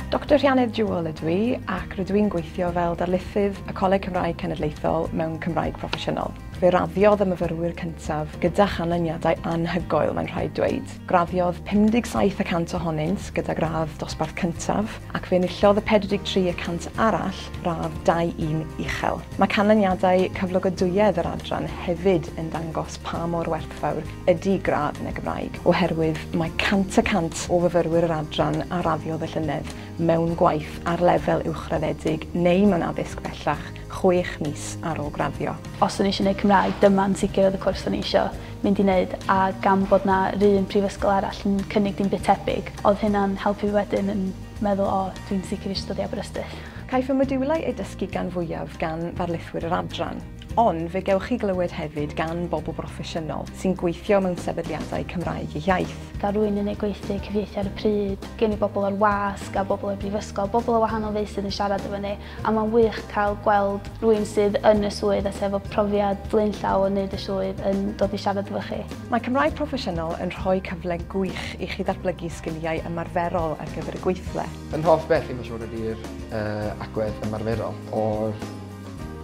Doctor Rhianedd Jewell ydw i ac rydw i'n gweithio fel darlithydd y Coleg Cymraeg Cenedlaethol mewn Cymraeg Proffesiynol. Fe raddiodd y myfyrwyr cyntaf gyda chanlyniadau anhygoel, mae'n rhaid dweud. Graddiodd 57 y cant ohonynt gyda gradd dosbarth cyntaf, ac fe enillodd y 43 y cant arall radd 2-1 uchel. Mae canlyniadau cyflogadwyedd yr adran hefyd yn dangos pa mor werthfawr ydy gradd yn y Gymraeg, oherwydd mae 100 y cant o fyfyrwyr yr adran a raddiodd y llynedd mewn gwaith ar lefel uwchraddedig neu mewn addysg bellach chwech mis ar ôl graddio. Os o'n i eisiau 'neud Cymraeg, dyma'n sicr oedd y cwrs o'n i eisiau. mynd i neud a gan bod 'na 'run prifysgol arall yn cynnig dim byd tebyg odd hynna'n helpu fi wedyn yn meddwl o dwi'n sicr isio dod i Aberystwyth. Caiff y modiwlau eu dysgu gan fwyaf gan ddarlithwyr yr adran, ond fe gewch chi glywed hefyd gan bobl broffesiynol sy'n gweithio mewn sefydliadau Cymraeg eu hiaith. Da rwy'n yn ei gweithdy cyfieithu ar y pryd, gen i bobl o'r wasg a bobl o'r brifysgol, bobl o wahanol feysydd yn siarad efo ni. A mae'n wych cael gweld rwy'n sydd yn y swydd a sydd efo profiad blaenllaw o wneud y swydd yn dod i siarad efo chi. Mae Cymraeg Proffesiynol yn rhoi cyfle gwych i chi ddatblygu sgiliau ymarferol ar gyfer y gweithle. Yn hoff beth i mae'n siŵr ydy'r agwedd ymarferol o'r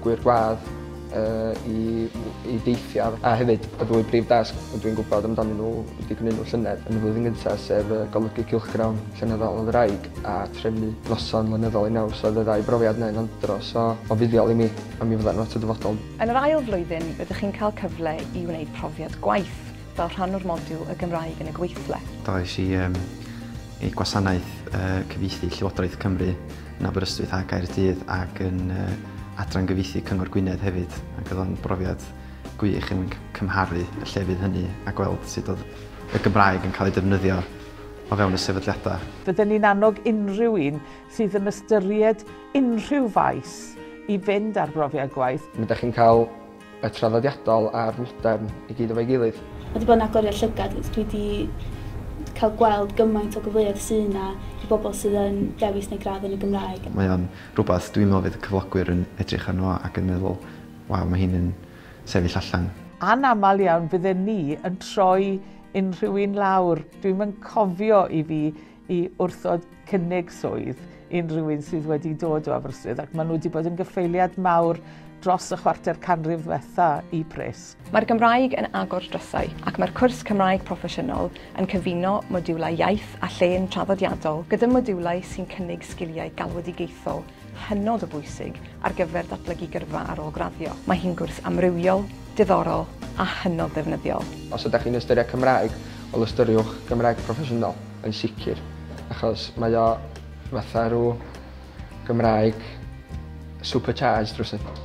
gwŷr gwadd. uh, i, i deithiau a hefyd y ddwy brif dasg rydw i'n gwybod amdanyn nhw wedi gwneud nhw llynedd yn y flwyddyn gyntaf sef uh, golygu cylchgrawn llenyddol o ddraig a trefnu noson lenyddol i naws oedd y ddau brofiad neu'n andro so o fuddiol i mi a mi fydda'n lot o dyfodol. Yn yr ail flwyddyn rydych chi'n cael cyfle i wneud profiad gwaith fel rhan o'r modiwl y Gymraeg yn y gweithle. Ddois i um, ei gwasanaeth uh, cyfieithu Llywodraeth Cymru yn Aberystwyth a Gaerdydd ac yn uh, adran gyfieithu Cyngor Gwynedd hefyd ac oedd o'n brofiad gwych yn cymharu y llefydd hynny a gweld sut oedd y Gymraeg yn cael ei defnyddio o fewn y sefydliadau. Fydden ni'n annog unrhyw un sydd yn ystyried unrhyw faes i fynd ar brofiad gwaith. Mae ydych chi'n cael Y traddodiadol a'r modern i gyd efo'i gilydd. Mae wedi bod yn agoriad llygad, dwi wedi cael gweld gymaint o gyfleoedd sydd yna i bobl sydd yn dewis neu gradd yn y Gymraeg. Mae o'n rhywbeth dwi'n meddwl fydd cyflogwyr yn edrych arno fo ac yn meddwl, waw, mae hyn yn sefyll allan. Anaml iawn fydden ni yn troi unrhyw un lawr, dwi'm yn cofio i fi i wrthod cynnig swydd unrhyw un sydd wedi dod o Aberystwyth ac maen nhw wedi bod yn gyffeiliad mawr dros y chwarter canrif ddiwetha i Pris. Mae'r Gymraeg yn agor drysau ac mae'r cwrs Cymraeg Proffesiynol yn cyfuno modiwlau iaith a llên traddodiadol gyda modiwlau sy'n cynnig sgiliau galwedigaethol hynod o bwysig ar gyfer datblygu gyrfa ar ôl graddio. Mae hi'n gwrs amrywiol, diddorol a hynod ddefnyddiol. Os ydych chi'n ystyried Cymraeg, wel ystyriwch Gymraeg proffesiynol, yn sicr, achos mae o fatha rhyw Gymraeg supercharged rhywsut.